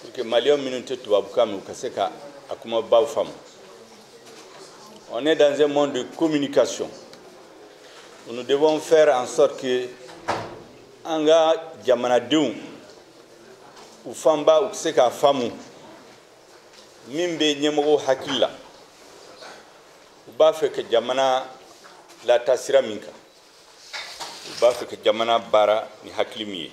pour que maliyɛn minnu tɛ tubabukan mɛn u ka se ka a kumabaw faamu on est dans un monde de communication nous devons faire en sorte que an ka jamanadenw u fanba u ka se k'a faamu min bɛ ɲɛmɔgɔw hakili la u b'a fɛ ka jamana lataa sira min kan u b'a fɛ ka jamana baara ni hakili min ye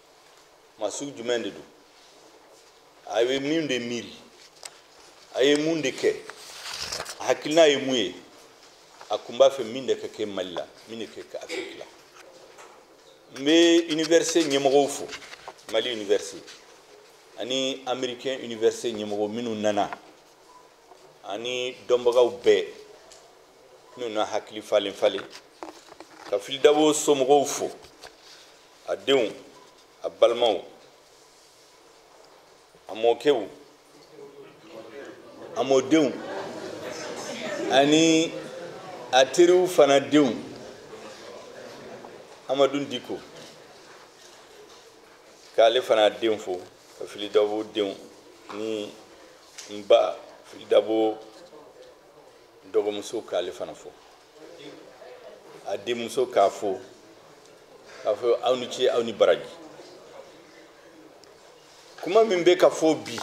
maa sugu jumɛn de don a ye min de miiri a ye mun de kɛ a hakilina ye mun ye a kun b'a fɛ min de ka kɛ mali la min de ka kɛ afiriki la n bɛ université ɲɛmɔgɔw fo mali université ani américain université ɲɛmɔgɔ minnu nana ani dɔnbagaw bɛɛ minnu na hakili falen falen ka fili dabo somɔgɔw fo a denw a balimaw a mɔkɛw a mɔdenw ani a teriw fana denw amadu diko k'ale fana den fo ka fili dabo denw ni n ba fili dabo dɔgɔmuso k'ale fana fo a denmuso k'a fo k'a fɔ aw ni ce aw ni baraji kuma min bɛ ka fɔ bi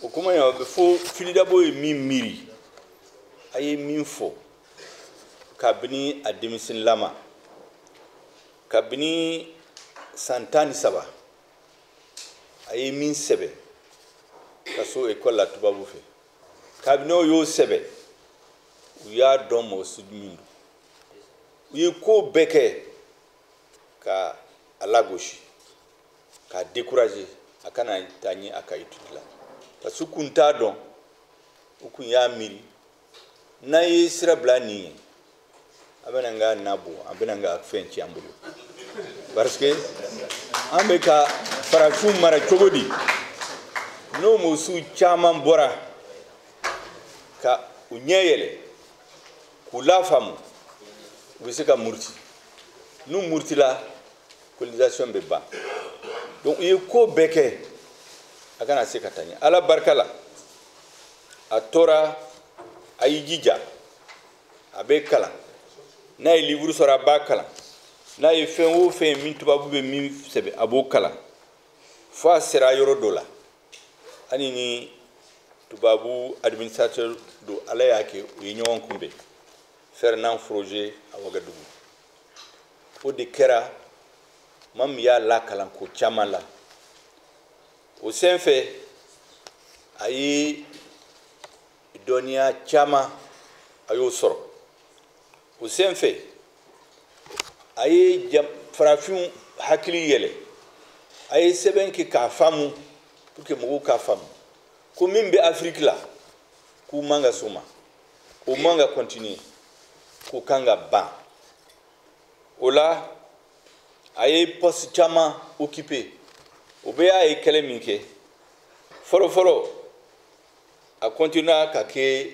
o kuma in a bɛ fɔ fili dabo ye min miiri a ye min fɔ kabini a denmisɛnninlama kabini san tan ni saba a ye min sɛbɛn ka so ekɔli la tubabu fɛ kabini o y'o sɛbɛn u y'a dɔn mɔgɔ sugu min don u ye ko bɛɛ kɛ ka a lagosi k'a décourager a kana taa ɲɛ a ka étude la parce que u kun t'a dɔn u kun y'a miiri n'an ye sira bila nin ye a bɛna an ka na bɔn a bɛna an ka fɛn ci an bolo parce que an bɛ ka farafinw mara cogo di n'o mɔgɔ suguw caman bɔra ka u ɲɛ yɛlɛ k'u lafaamu u bɛ se ka muruti n'u murutila colonisation bɛ ban donc u ye ko bɛɛ kɛ a kana se ka taa ɲɛ ala barika la a tora a y'i jija a bɛ kalan n'a ye livre sɔrɔ a b'a kalan n'a ye fɛn o fɛn min tubabu bɛ min sɛbɛn a b'o kalan fo a sera yɔrɔ dɔ la ale ni tubabu administrateur dɔ ala y'a kɛ u ye ɲɔgɔn kunbɛn Fernand Froger a wagadugu o de kɛra maa min y'a lakalan ko caman la o senfɛ a ye dɔnniya caman a y'o sɔrɔ o sen fɛ a ye farafinw hakili yɛlɛ a ye sɛbɛn kɛ k'a faamu pour que mɔgɔw k'a faamu ko min bɛ afiriki la k'u man ka sɔn o ma o man ka continuer k'u kan ka ban o la a ye poste caman occuper o bɛɛ y'a ye kɛlɛ min kɛ fɔlɔfɔlɔ a continua ka kɛ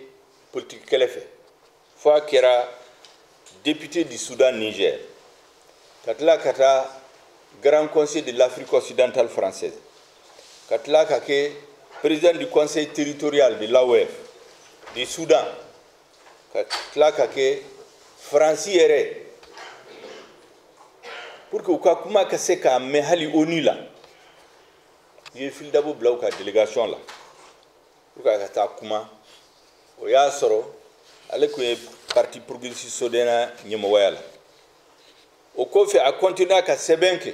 politiki kɛlɛ fɛ fo a kɛra député du Soudan Niger ka tila ka taa Grand Conseil de l'Afrique occidentale française ka tila ka kɛ président du conseil territorial de l'AOF du Soudan ka tila ka kɛ Faransi yɛrɛ pour que u ka kuma ka se k'a mɛn hali ONU la u ye Fily Dabo bila u ka délégation la pour que a ka taa kuma o y'a sɔrɔ ale tun ye parti progressiste soudanais ɲɛmɔgɔya la o kɔfɛ a continua ka sɛbɛn kɛ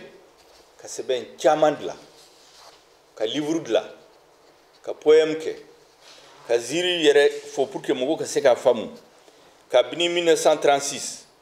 ka sɛbɛn caman dilan ka livre dilan ka poème kɛ ka ziiri yɛrɛ fɔ pour que mɔgɔw ka se k'a faamu kabini 1936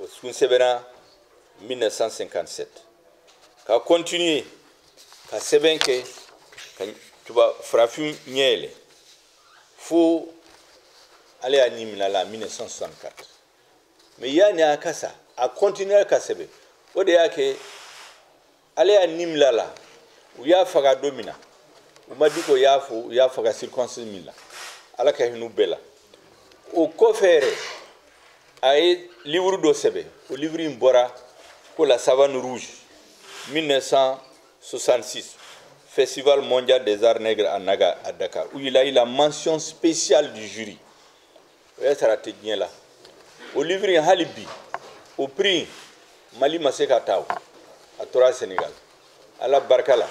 o sun sɛbɛnna 1957 ka continuer ka sɛbɛn kɛ ka tuba farafin ɲɛ yɛlɛ fo ala y'a ni min'a la 1964 mais yanni a ka sa a continuer ka sɛbɛn o de y'a kɛ ala y'a ni min'a la u y'a faga don min na u ma di ko y'a fo u y'a faga circonstance min la ala ka hin'u bɛɛ la o kɔfɛ yɛrɛ a ye livre dɔ sɛbɛn o livre in bɔra ko la savane rouge 1966 festival mondial des arts nègres à naga à dakar où il a eu la mention spéciale du jury o y'a sɔrɔ a tɛ diɲɛ la o livre in hali bi o prix mali ma se k'a ta o a tora Sénégal ala barika la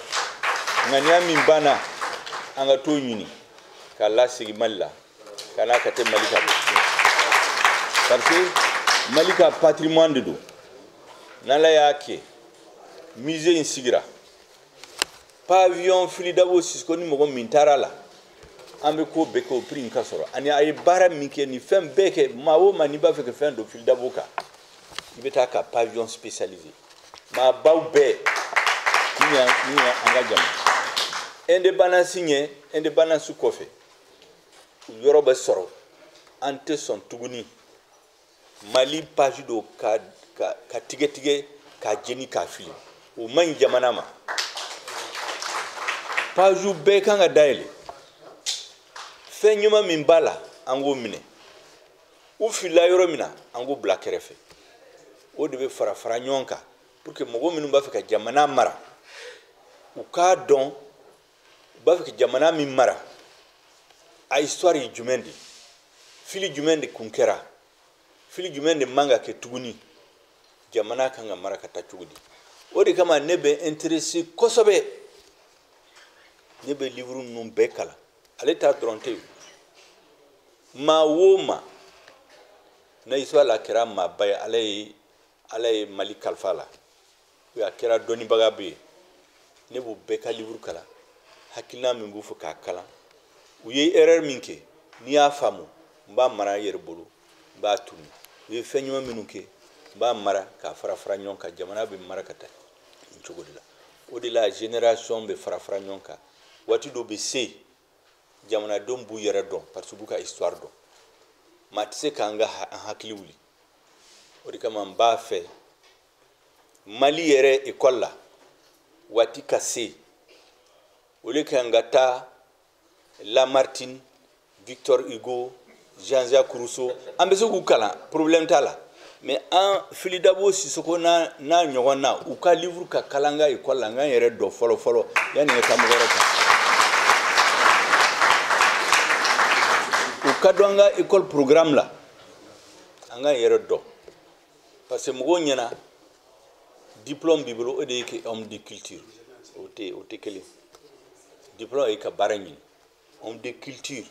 ŋaniya min b'an na an ka t'o ɲini k'a lasegin mali la ka n'a ka tɛ mali ka bɔ parce que mali ka patrimoine de don n'ala y'a kɛ musée in sigira pavillon fili dabo sisoko ni mɔgɔ min taara la an bɛ ko bɛɛ kɛ o prix in ka sɔrɔ ani a ye baara min kɛ ni fɛn bɛɛ kɛ maa o maa n'i b'a fɛ ka fɛn dɔn fili dabo kan i bɛ taa ka pavillon spécialisé maabaw bɛɛ min ye min ye an ka jamana indépendance ɲɛ indépendance kɔfɛ u yɔrɔ bɛ sɔrɔ an tɛ sɔn tuguni mali page dɔ ka, ka, ka tigɛtigɛ ka jeni k'a fili o man ɲi jamana ma pagew bɛɛ kan ka dayɛlɛ fɛn ɲuman min b'a la an k'o minɛ u filila yɔrɔ min na an k'o bila kɛrɛfɛ o de bɛ fara fara ɲɔgɔn kan pour que mɔgɔ minnu b'a fɛ ka jamana mara u k'a dɔn b'a fɛ jamana min mara a histoire ye jumɛn de fili jumɛn de kun kɛra fili jumɛn de man ka kɛ tuguni jamana kan ka mara ka taa cogo di o de kama ne bɛ intéressé kosɛbɛ ne bɛ livre ninnu bɛɛ kalan ale ta dɔrɔn tɛ maa o maa na histoire la kɛra maaba ye ala ye ala ye mali kalifa la a kɛra dɔnnibagaba ye ne b'u bɛɛ ka livre kalan hakilina min b'u fɛ k'a kalan u ye erreur min kɛ n'i y'a faamu n b'a mara n yɛrɛ bolo n b'a tunu u ye fɛn ɲuman minnu kɛ n b'a mara k'a fara fara ɲɔgɔn kan jamana bɛ mara ka taa nin cogo de la o de la génération bɛ fara fara ɲɔgɔn kan waati dɔ bɛ se yen jamanadenw b'u yɛrɛ dɔn parce que u b'u ka histoire dɔn maa tɛ se k'an ka an hakili wuli o de kama n b'a fɛ mali yɛrɛ école la waati ka se o le kan ka taa lamartine victor hugo jean jacques rousseau an bɛ se k'u kalan problème t'a la mais an fili dabo sisoko n'a n'a ɲɔgɔnnaw ka livre ka kalan an ka école la an k'an yɛrɛ dɔn fɔlɔ fɔlɔ yanni ka taa mɔgɔ wɛrɛ kan u ka don an ka école programme la an k'an yɛrɛ dɔn parce que mɔgɔw ɲɛna diplôme b'i bolo o de y'i kɛ homme de culture o tɛ o tɛ kelen diplôme ye ka baara ɲini homme de culture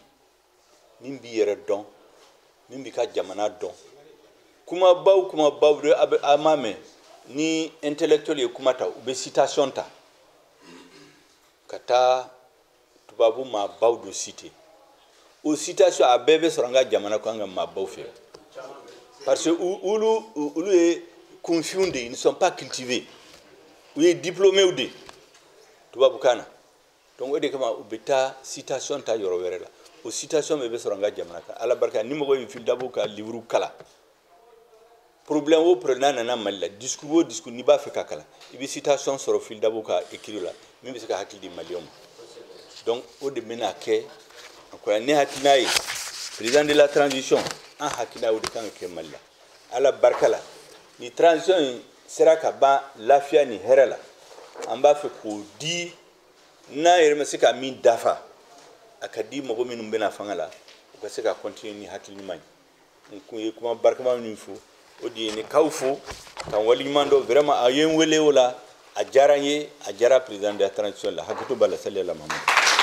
min b'i yɛrɛ dɔn min b'i ka jamana dɔn kumabaw kumabaw de a bɛ a m'a mɛn ni intellectuel ye kuma ta u bɛ citation ta ka taa tubabu maabaw dɔ citer o citation a bɛɛ bɛ sɔrɔ an ka jamana kɔnɔ an ka maabaw fɛ parce que olu olu ye kunfinw de ye ils ne sont pas cultivés u ye diplômés de ye tubabukan na donc o de kama u bɛ taa citation ta yɔrɔ wɛrɛ la o citation bɛɛ bɛ sɔrɔ an ka jamana kan ala barika ni mɔgɔ ye fili dabo ka livre kalan problème o problème n'a nana mali la discours o discours n'i b'a fɛ ka kalan i bɛ citation sɔrɔ fili dabo ka écrit la min bɛ se ka hakili di maliyɛnw ma donc o de bɛna kɛ encore ne hakilina ye président de la transition an hakilina o de kan ka kɛ mali la ala barika la ni transition in sera ka ban lafiya ni hɛrɛ la an b'a fɛ k'o di n'an yɛrɛ ma se ka min dafa a ka di mɔgɔ minnu bɛ na fanga la u ka se ka continuer ni hakili ɲuman ye n kun ye kuma barikama min fɔ o de ye ne k'aw fo ka n waleɲuman dɔn vraiment a ye n wele o la a diyara n ye a diyara président de la transition la hakɛto b'a la sali ala mahamadu